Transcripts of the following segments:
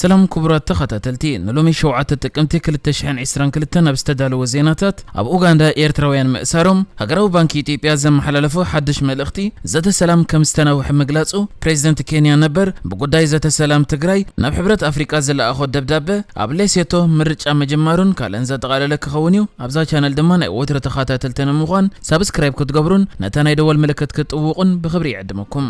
ሰላም ክቡራት ተኸታተልቲ፣ ንሎሚ ሸውዓተ ጥቅምቲ ክልተ ሽሕን ዕስራን ክልተን ኣብ ዝተዳለወ ዜናታት፣ ኣብ ኡጋንዳ ኤርትራውያን ምእሳሮም፣ ሃገራዊ ባንኪ ኢትዮጵያ ዘመሓላለፎ ሓድሽ መልእኽቲ፣ ዘተ ሰላም ከም ዝተናውሐ ምግላጹ፣ ፕሬዚደንት ኬንያ ነበር ብጉዳይ ዘተ ሰላም ትግራይ ናብ ሕብረት ኣፍሪቃ ዝለኣኾ ደብዳበ፣ ኣብ ሌሴቶ ምርጫ ምጅማሩን ካልእን ዘጠቓለለ ክኸውን እዩ። ኣብዛ ቻነል ድማ ናይ ወትሩ ተኸታተልቲ ንምዃን ሳብስክራይብ ክትገብሩን ነታ ናይ ደወል ምልክት ክትጥውቑን ብኽብሪ ይዕድመኩም።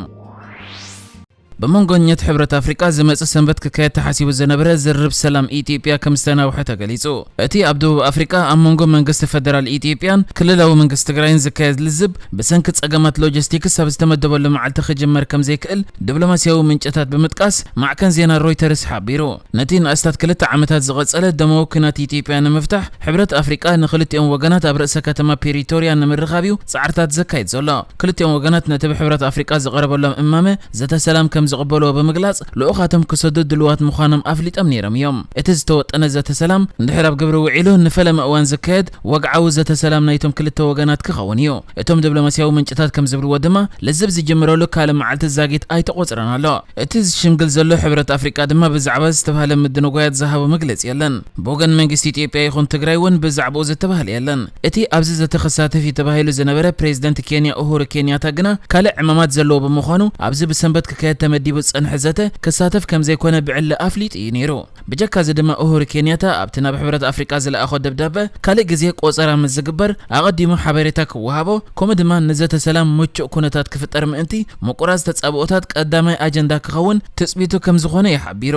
ብመንጎኘት ሕብረት ኣፍሪቃ ዝመጽእ ሰንበት ክካየድ ተሓሲቡ ዝነበረ ዝርርብ ሰላም ኢትዮጵያ ከም ዝተናውሐ ተገሊጹ። እቲ ኣብ ደቡብ ኣፍሪቃ ኣብ መንጎ መንግስቲ ፈደራል ኢትዮጵያን ክልላዊ መንግስቲ ትግራይን ዝካየድ ልዝብ ብሰንኪ ጸገማት ሎጂስቲክስ ኣብ ዝተመደበሉ መዓልቲ ክጅመር ከም ዘይክእል ድብሎማስያዊ ምንጭታት ብምጥቃስ ማዕከን ዜና ሮይተርስ ሓቢሩ። ነቲ ንኣስታት ክልተ ዓመታት ዝቐጸለ ደማዊ ኲናት ኢትዮጵያ ንምፍታሕ፣ ሕብረት ኣፍሪቃ ንክልቲኦም ወገናት ኣብ ርእሰ ከተማ ፒሪቶርያ ንምርኻብ'ዩ ጻዕርታት ዘካይድ ዘሎ። ክልቲኦም ወገናት ነቲ ብሕብረት ኣፍሪቃ ዝቐረበሎም እማመ ዘተ ሰላም ከም ዝቕበልዎ ብምግላጽ፣ ልኡኻቶም ክሰዱ ድሉዋት ምዃኖም ኣፍሊጦም ነይሮም እዮም። እቲ ዝተወጠነ ዘተ ሰላም እንድሕር ኣብ ግብሪ ውዒሉ ንፈለማ እዋን ዝካየድ፣ ወግዓዊ ዘተ ሰላም ናይቶም ክልተ ወገናት ክኸውን እዩ። እቶም ደብሎማስያዊ ምንጭታት ከም ዝብልዎ ድማ፣ ልዝብ ዝጅምረሉ ካልእ መዓልቲ ዛጊት ኣይተቖጽረን ኣሎ። እቲ ዝሽምግል ዘሎ ሕብረት ኣፍሪቃ ድማ ብዛዕባ እዚ ዝተባህለ ምድንጓያት ዝሃቦ መግለጺ የለን። ብወገን መንግስቲ ኢትዮጵያ ይኹን ትግራይ እውን ብዛዕባኡ ዝተባህለ የለን። እቲ ኣብዚ ዘተ ክሳተፍ እዩ ተባሂሉ ዝነበረ ፕሬዚደንት ኬንያ ኡሁሩ ኬንያታ ግና ካልእ ዕማማት ዘለዎ ብምዃኑ ኣብዚ ብሰንበት ክካየድ ተመዲቡ ዝጸንሐ ዘተ ክሳተፍ ከም ዘይኮነ ብዕሊ ኣፍሊጡ እዩ ነይሩ። ብጀካ እዚ ድማ ኡሁሩ ኬንያታ ኣብቲ ናብ ሕብረት ኣፍሪቃ ዝለኣኾ ደብዳበ ካልእ ግዜ ቆጸራ ምስ ዝግበር ኣቐዲሙ ሓበሬታ ክወሃቦ ከምኡ ድማ ንዘተ ሰላም ምቹእ ኩነታት ክፍጠር ምእንቲ ምቁራጽ ተጻብኦታት ቀዳማይ ኣጀንዳ ክኸውን ትጽቢቱ ከም ዝኾነ እዩ ሓቢሩ።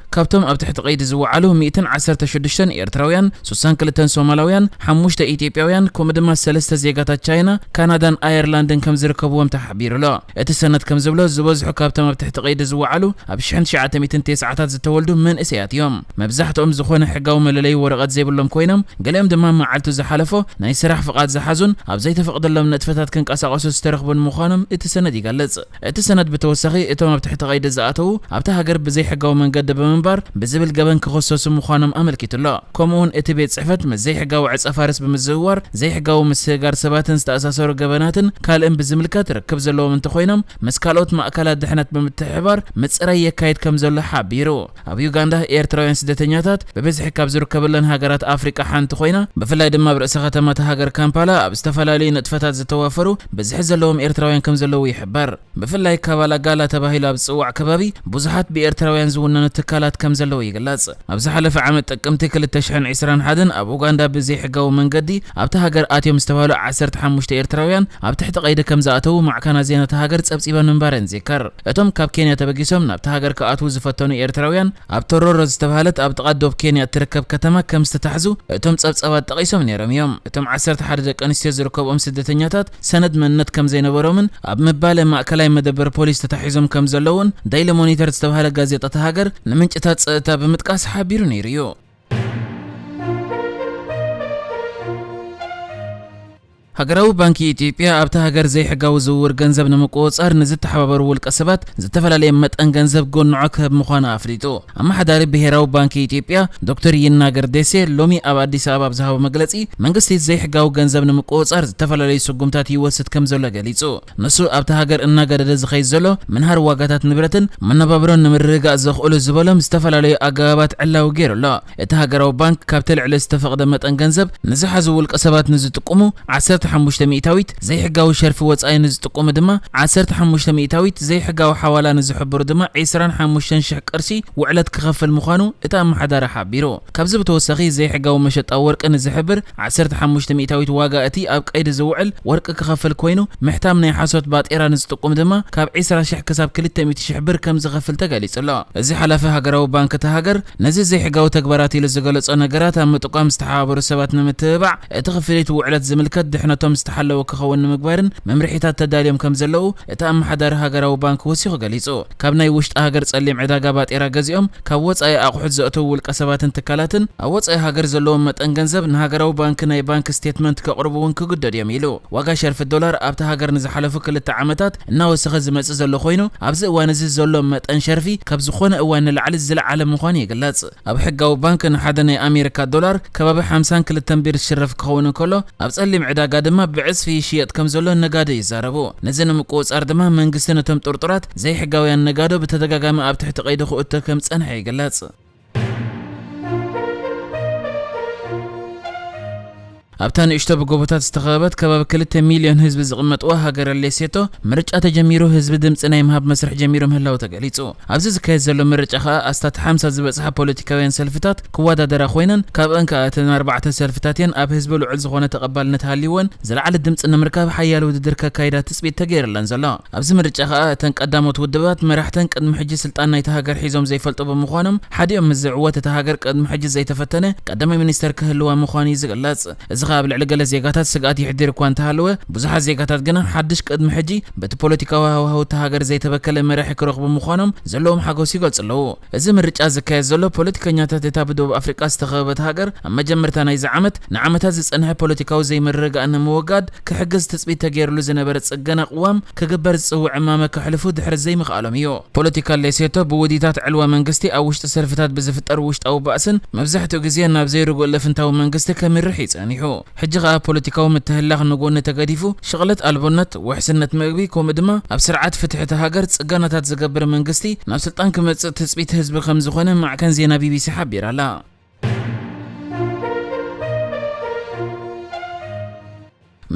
ካብቶም ኣብ ትሕቲ ቀይዲ ዝወዓሉ ሚእትን ዓሰርተ ሽዱሽተን ኤርትራውያን፣ ሱሳን ክልተን ሶማላውያን፣ ሓሙሽተ ኢትዮጵያውያን ከምኡ ድማ ሰለስተ ዜጋታት ቻይና፣ ካናዳን ኣየርላንድን ከም ዝርከብዎም ተሓቢሩ'ሎ። እቲ ሰነድ ከም ዝብሎ ዝበዝሑ ካብቶም ኣብ ትሕቲ ቀይዲ ዝወዓሉ ኣብ ሽሕን ትሽዓተ ሚእትን ቴስዓታት ዝተወልዱ መንእሰያት እዮም። መብዛሕትኦም ዝኾነ ሕጋዊ መለለዪ ወረቐት ዘይብሎም ኮይኖም ገሊኦም ድማ መዓልቱ ዝሓለፎ ናይ ስራሕ ፍቓድ ዝሓዙን ኣብ ዘይተፈቕደሎም ንጥፈታት ክንቀሳቐሱ ዝተረኽቡን ምዃኖም እቲ ሰነድ ይገልጽ። እቲ ሰነድ ብተወሳኺ እቶም ኣብ ትሕቲ ቀይዲ ዝኣተዉ ኣብታ ሃገር ብዘይሕጋዊ መንገዲ ብምንባር ብዝብል ገበን ክኽሰሱ ምዃኖም ኣመልኪቱ ኣሎ። ከምኡ'ውን እቲ ቤት ጽሕፈት ምስ ዘይሕጋዊ ዕጸፋርስ ብምዝውዋር፣ ዘይሕጋዊ ምስግጋር ሰባትን ዝተኣሳሰሩ ገበናትን ካልእን ብዝምልከት ርክብ ዘለዎም እንተኾይኖም ምስ ካልኦት ማእካላት ድሕነት ብምትሕብባር ምጽራይ የካይድ ከምዘሎ ሓቢሩ። ኣብ ዩጋንዳ፣ ኤርትራውያን ስደተኛታት ብብዝሒ ካብ ዝርከበለን ሃገራት ኣፍሪቃ ሓንቲ ኮይና፣ ብፍላይ ድማ ኣብ ርእሰ ከተማ እታ ሃገር ካምፓላ ኣብ ዝተፈላለዩ ንጥፈታት ዝተዋፈሩ ብዝሒ ዘለዎም ኤርትራውያን ከምዘለዉ ይሕበር። ብፍላይ ካባላ ጋላ ተባሂሉ ኣብ ዝጽዋዕ ከባቢ ብዙሓት ብኤርትራውያን ዝውነኑ ትካላት ከምዘለዉ ይግለጽ። ኣብ ዝሓለፈ ዓመት ጥቅምቲ ክልተ ሽሕን ዕስራን ሓደን ኣብ ኡጋንዳ ብዘይሕጋዊ መንገዲ ኣብታ ሃገር ኣትዮም ዝተባህሉ ዓሰርተ ሓሙሽተ ኤርትራውያን ኣብ ትሕቲ ቀይዲ ከምዝኣተዉ ማዕከናት ዜና እታ ሃገር ጸብጺበን ምንባረን ይዝከር። እቶም ካብ ኬንያ ተበጊሶም ናብታ ሃገር ክኣትዉ ዝፈተኑ ኤርትራውያን፣ ኣብ ቶሮሮ ዝተባህለት ኣብ ጥቓ ዶብ ኬንያ እትርከብ ከተማ ከም ዝተታሕዙ እቶም ጸብጻባት ጠቒሶም ነይሮም እዮም። እቶም ዓሰርተ ሓደ ደቂ ኣንስትዮ ዝርከብኦም ስደተኛታት፣ ሰነድ መንነት ከም ዘይነበሮምን ኣብ ምባለ ማእከላይ መደበር ፖሊስ ተታሒዞም ከም ዘለዉን ደይሊ ሞኒተር ዝተባህለ ጋዜጣ እታ ሃገር ንምንጭታት ጸጥታ ብምጥቃስ ሓቢሩ ነይሩ እዩ። ሃገራዊ ባንኪ ኢትዮጵያ ኣብታ ሃገር ዘይሕጋዊ ዝውውር ገንዘብ ንምቁፅፃር ንዝተሓባበሩ ውልቀ ሰባት ዝተፈላለየ መጠን ገንዘብ ጎንዖ ክህብ ምዃኑ ኣፍሊጡ። ኣመሓዳሪ ብሄራዊ ባንኪ ኢትዮጵያ ዶክተር ይናገር ዴሴ ሎሚ ኣብ ኣዲስ ኣበባ ኣብ ዝሃቦ መግለፂ መንግስቲ ዘይሕጋዊ ገንዘብ ንምቁፅፃር ዝተፈላለዩ ስጉምታት ይወስድ ከምዘሎ ገሊፁ። ንሱ ኣብታ ሃገር እናገደደ ዝኸይድ ዘሎ ምንሃር ዋጋታት ንብረትን መነባብሮን ንምርግጋእ ዘኽእሉ ዝበሎም ዝተፈላለዩ ኣገባባት ዕላዊ ገይሩ ኣሎ። እቲ ሃገራዊ ባንክ ካብቲ ልዕሊ ዝተፈቕደ መጠን ገንዘብ ንዝሓዙ ውልቀ ሰባት ንዝጥቁሙ ዓሰርተ ሓሙሽተ ሚኢታዊት፣ ዘይሕጋዊ ሸርፊ ወጻኢ ንዝጥቁሙ ድማ ዓሰርተ ሓሙሽተ ሚኢታዊት፣ ዘይሕጋዊ ሓዋላ ንዝሕብሩ ድማ ዕስራን ሓሙሽተን ሽሕ ቅርሺ ውዕለት ክኸፍል ምዃኑ እቲ ኣመሓዳሪ ሓቢሩ። ካብዚ ብተወሳኺ ዘይሕጋዊ መሸጣ ወርቂ ንዝሕብር ዓሰርተ ሓሙሽተ ሚእታዊት ዋጋ እቲ ኣብ ቀይዲ ዝውዕል ወርቂ ክኸፍል ኮይኑ፣ ምሕታም ናይ ሓሶት ባጤራ ንዝጥቁም ድማ ካብ ዕስራ ሽሕ ክሳብ ክልተ ሚእቲ ሽሕ ብር ከምዝኸፍል ተገሊጹ'ሎ። እዚ ሓላፊ ሃገራዊ ባንክ እታ ሃገር፣ ነዚ ዘይሕጋዊ ተግባራት ኢሉ ዝገለጾ ነገራት ኣብ ምጥቋም ዝተሓባበሩ ሰባት ንምትብባዕ፣ እቲ ክፍሊት ውዕለት ዝምልከት ድሕነቶም ዝተሓለወ ክኸውን ንምግባርን መምርሒታት ተዳልዮም ከምዘለዉ እቲ ኣመሓዳሪ ሃገራዊ ባንክ ወሲኹ ገሊጹ። ካብ ናይ ውሽጢ ሃገር ጸሊም ዕዳጋ ባጤራ ገዚኦም ካብ ወጻኢ ኣቑሑት ዘእተዉ ውልቀሰባትን ትካላትን ኣብ ወጻኢ ሃገር ዘለዎም መጠን ገንዘብ ንሃገራዊ ባንኪ ናይ ባንክ ስቴትመንት ከቕርቡ እውን ክግደዱ እዮም ኢሉ። ዋጋ ሸርፊ ዶላር ኣብታ ሃገር ንዝሓለፉ ክልተ ዓመታት እናወሰኸ ዝመጽእ ዘሎ ኮይኑ ኣብዚ እዋን እዚ ዘሎ መጠን ሸርፊ ካብ ዝኾነ እዋን ንላዕሊ ዝለዓለ ምዃኑ ይግለጽ። ኣብ ሕጋዊ ባንክ ንሓደ ናይ ኣሜሪካ ዶላር ከባቢ ሓምሳን ክልተን ቢር ዝሽረፍ ክኸውን እንከሎ፣ ኣብ ጸሊም ዕዳጋ ድማ ብዕጽፊ ይሽየጥ ከምዘሎ ነጋዶ ይዛረቡ። ነዚ ንምቁጽጻር ድማ መንግስቲ ነቶም ጥርጡራት ዘይሕጋውያን ነጋዶ ብተደጋጋሚ ኣብ ትሕቲ ቀይዲ ክእቶ ከም ዝጸንሐ ይግለጽ። ኣብታ ንእሽቶ ብጎቦታት ዝተኸበበት ከባቢ ክልተ ሚልዮን ህዝቢ ዝቕመጥዋ ሃገረ ሌሴቶ፣ ምርጫ ተጀሚሩ ህዝቢ ድምጺ ናይ ምሃብ መስርሕ ጀሚሩ ምህላዉ ተገሊጹ። ኣብዚ ዝካየድ ዘሎ ምርጫ ከኣ ኣስታት ሓምሳ ዝበጽሓ ፖለቲካውያን ሰልፍታት ክወዳደራ ኮይነን፣ ካብኣን ከኣ እተን ኣርባዕተ ሰልፍታት'የን ኣብ ህዝቢ ልዑል ዝኾነ ተቐባልነት ሃልይወን ዝለዓለ ድምጺ ንምርካብ ሓያል ውድድር ከካይዳ ትጽቢት ተገይርለን ዘሎ። ኣብዚ ምርጫ ከኣ እተን ቀዳሞት ውድባት መራሕተን ቅድሚ ሕጂ ስልጣን ናይታ ሃገር ሒዞም ዘይፈልጡ ብምዃኖም ሓዲኦም ምስ ዝዕወት እታ ሃገር ቅድሚ ሕጂ ዘይተፈተነ ቀዳማይ ሚኒስተር ክህልዋ ምዃኑ'ዩ ዝግለጽ። እዚ ከኣ ኣብ ልዕሊ ገለ ዜጋታት ስግኣት የሕዲር እኳ እንተሃለወ፣ ብዙሓት ዜጋታት ግና ሓድሽ ቅድሚ ሕጂ በቲ ፖለቲካዊ ሃዋህው እታ ሃገር ዘይተበከለ መራሒ ክረኽቡ ምዃኖም ዘለዎም ሓጎስ ይገልጹ ኣለዉ። እዚ ምርጫ ዝካየድ ዘሎ፣ ፖለቲከኛታት እታ ብደቡብ ኣፍሪቃ ዝተኸበበት ሃገር ኣብ መጀመርታ ናይዚ ዓመት ንዓመታት ዝጸንሐ ፖለቲካዊ ዘይምርግጋእ ንምውጋድ ክሕግዝ ትጽቢት ተገይርሉ ዝነበረ ጽገና ቅዋም ክግበር ዝጽውዕ እማመ ከሕልፉ ድሕሪ ዘይምኽኣሎም እዩ። ፖለቲካ ሌሴቶ ብውዲታት ዕልዋ መንግስቲ ኣብ ውሽጢ ሰልፍታት ብዝፍጠር ውሽጣዊ ባእስን መብዛሕትኡ ግዜ ናብ ዘይርጉእ ልፍንታዊ መንግስቲ ከምርሕ እዩ ጸኒሑ። ሕጂ ከኣ ፖለቲካዊ ምትህልላኽ ንጎኒ ተገዲፉ ሽቕለት ኣልቦነት፣ ውሕስነት መግቢ ከምኡ ድማ ኣብ ስርዓት ፍትሒ እታ ሃገር ጽገናታት ዝገብር መንግስቲ ናብ ስልጣን ክመጽእ ትጽቢት ህዝቢ ከምዝኾነ ማዕከን ዜና ቢቢሲ ሓቢራ ኣላ።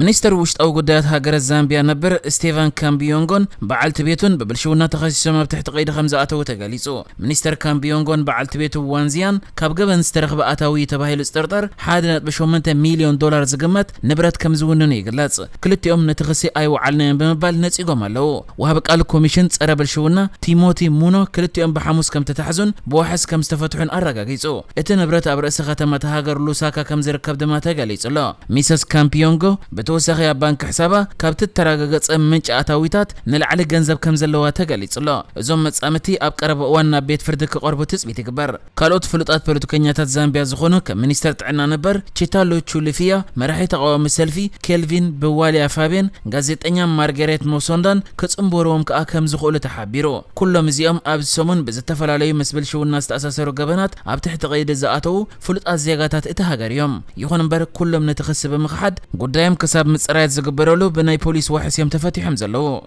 ሚኒስትር ውሽጣዊ ጉዳያት ሃገረ ዛምቢያ ነበር ስቴቫን ካምቢዮንጎን በዓልቲ ቤቱን ብብልሽውና ተኸሲሶም ኣብ ትሕቲ ቀይዲ ከም ዝኣተዉ ተገሊጹ። ሚኒስተር ካምቢዮንጎን በዓልቲ ቤቱ ዋንዚያን ካብ ገበን ዝተረኽበ ኣታዊ እዩ ተባሂሉ ዝጥርጠር ሓደ ነጥቢ ሸሞንተ ሚልዮን ዶላር ዝግመት ንብረት ከም ዝውንኑ ይግለጽ። ክልቲኦም ነቲ ክሲ ኣይወዓልናዮን ብምባል ነጺጎም ኣለዉ። ወሃቢ ቃል ኮሚሽን ፀረ ብልሽውና ቲሞቲ ሙኖ ክልቲኦም ብሓሙስ ከምተታሕዙን ብዋሕስ ከምዝተፈትሑን ኣረጋጊፁ። እቲ ንብረት ኣብ ርእሲ ከተማ እታ ሃገር ሉሳካ ከምዝርከብ ድማ ተገሊፁ ኣሎ። ሚሰስ ካምፒዮንጎ ብተወሳኺ ኣብ ባንኪ ሕሳባ ካብቲ እተረጋገፀ ምንጪ ኣታዊታት ንላዕሊ ገንዘብ ከምዘለዋ ተገሊፁ ኣሎ። እዞም መፃምድቲ ኣብ ቀረባ እዋን ናብ ቤት ፍርዲ ክቐርቡ ትፅቢት ይግበር። ካልኦት ፍሉጣት ፖለቲከኛታት ዛምቢያ ዝኾኑ ከም ሚኒስተር ጥዕና ነበር ቺታሎ ቹሊፊያ፣ መራሒ ተቓዋሚ ሰልፊ ኬልቪን ብዋሊያ ፋቤን፣ ጋዜጠኛ ማርገሬት ሞሶንዳን ክጽንበሩዎም ከኣ ከምዝኽእሉ ተሓቢሩ። ኩሎም እዚኦም ኣብዚ ሰሙን ብዝተፈላለዩ ምስ ብልሽውና ዝተኣሳሰሩ ገበናት ኣብ ትሕቲ ቀይዲ ዝኣተዉ ፍሉጣት ዜጋታት እታ ሃገር እዮም። ይኹን እምበር ኩሎም ነቲ ክሲ ብምኽሓድ ጉዳዮም ክሳብ ምጽራያት ዝግበረሉ ብናይ ፖሊስ ዋሕስ እዮም ተፈቲሖም ዘለዉ።